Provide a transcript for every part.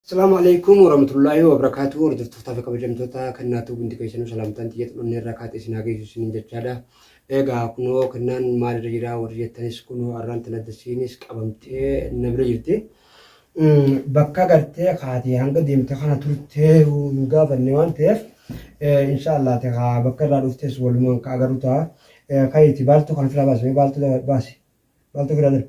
Salaam Aleeykum Warahmatullaahi Wabarakaatuhu Hordoftoota fi kabajamtoota kennaa tuub hundi keessanuu salaamtaan xiyya xulunni irraa kaatee isin haa geessu isiniin jechaadha. Egaa kunoo kennaan maal irra jira warri jettanis kunoo arraan tana dasiinis qabamtee na bira jirti. Bakka gartee kaatee hanga deemte kana turtee hin gaafanne waan ta'eef insha Allah ta'aa bakka irraa dhuftes walumaan ka agarru ta'a. Kayiiti baaltuu kana firaa baasi mee baaltuu baasi baaltuu firaa darbi.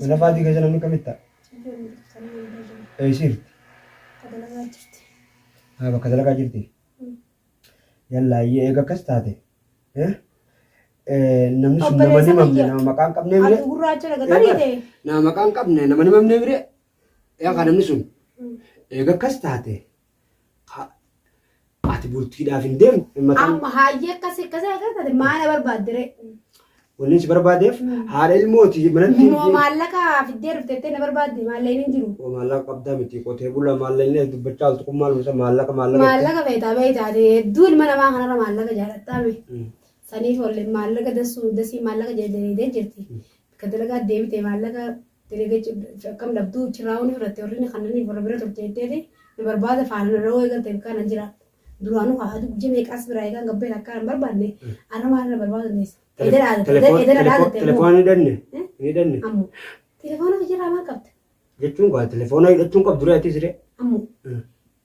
Mana faatii keessa namni kamitti ta'a? Eessiirti? Haa bakka dalagaa jirti. Yallaa iyyee eega akkas taate. Namni sun nama ni mamne nama maqaa hin qabnee mire. Nama maqaa hin qabne nama ni mamnee mire. Yaa kaa namni sun eega akkas taate Ati bultiidhaaf hin deemne. Mataan Amma haayyee akkas akkas akkas taate maana barbaadde ree? wanni si barbaadeef haadha ilmooti manatti hin Moo deemne. maallaqa fiddee dhuftettee na barbaadde maalleen hin jiru. Waa maallaqa qabdaa miti qotee bulaa maallaqni as dubbachaa oltu kun maaluma isa maallaqa maallaqa. Maallaqa feetaa beektaa ati hedduu ilma namaa kanarra maallaqa jaalattaa mee? Mm. Saniif olleen maallaqa dasuu dasii maallaqa jedhee jirti. Ka dalagaa deebitee maallaqa Dalaga akkam dhabduu chirraa wani fudhatte warri ni kannaniif warra bira turte jetteeti na barbaada faana na dhawoo eegalte bakka nan jira. Duraanuu haa aduu guyya meeqaas biraa eegaan gabbee takkaa nan barbaanne arra maal na barbaadu deessa. Eeda dhaadatte Telefoon- eeda na telefo- dhaadatte Telefoona hin hidhanne? Eh? Hin hidhanne? ammo telefoona kiyya irraa maal qabda Jechuun gaa telefoona hidhachuun qabdu ree atis ree? ammo Eh.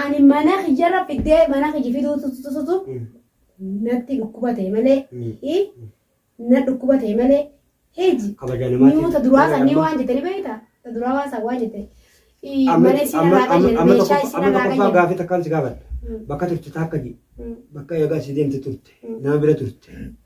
Ani mana kiyyarra fiddee mana kiyyi fiduu tutututu natti dhukkuba ta'e malee i na dhukkuba ta'e malee heji Kabaja namaatiif. niu ta duraa san ni waan jettani beekta ta duraa waan san waan jette i Amma mana isin amma- irraa amma- qayyade amma meeshaa tokkoffaa- isin amma irraa tokkoffaa qayyade gaafii takkaan si gaafadha. Bakka turte taakka ji bakka eegaa si deemte turte nama bira turte.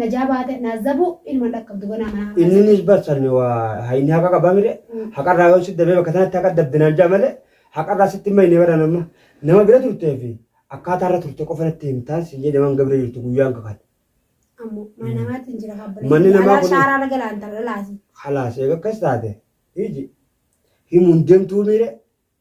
Najaa baate naazabu ilma dhaqqabdu ganaa manaa hamaa Inni nis barsan waa ha- inni haqa qaba mire haqarraa yoo sitti dabee bakka sanatti haqa dabbinaan jaa malee haqarraa sitti hin bahine bara nama nama bira turtee fi akkaataa irra turte qofa natti himtaan siin jedhe waan gabira jirtu guyyaan kakan ammoo mana namaatiin jira habbalee Manni namaa alaa kun- shaaraa laga laantarra laasi halaas eega akkas taate iji himuun deemtuu mire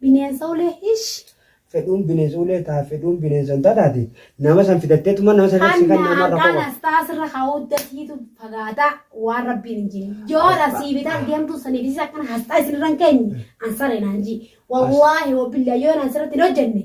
Bineensa ulee hish. fedhuun bineensa ulee taa fedhuun bineensa hin taataati nama san fidatteetuma nama san irratti si Hanna kanna marra hanqaan qofa. astaa sirra kaa'uudda siitu fagaata waan rabbiin hin jin. Yoo dha sii bitaa deemtuu saniif isis akkana hasxaa isinirra hin keenye ansaree naan ji. Wallaahi wabbillah yoo naan sirratti hin hojjenne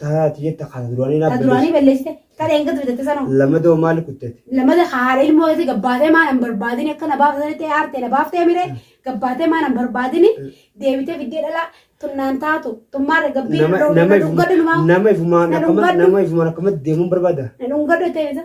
Taa ti jetta kaa ta duraanii naa Ta duraanii balleessite. balleessite. Ta dheengadda bitatte sanoo. Lamadoo maal kuttete? Lamada ka haadha ilmoo isii gabbaatee maan hin barbaadini akka na baafte sanitti aartee na baaftee miree gabbaatee maan hin barbaadini deebitee fiddee dhalaa tun naan taatu tun maarra gabbii Nama na nama dhungadhu numaa nama ifumaan na akkama dhungadhu nama ifumaan akkamatti deemuun barbaada? na dhungadhu jetteen isa.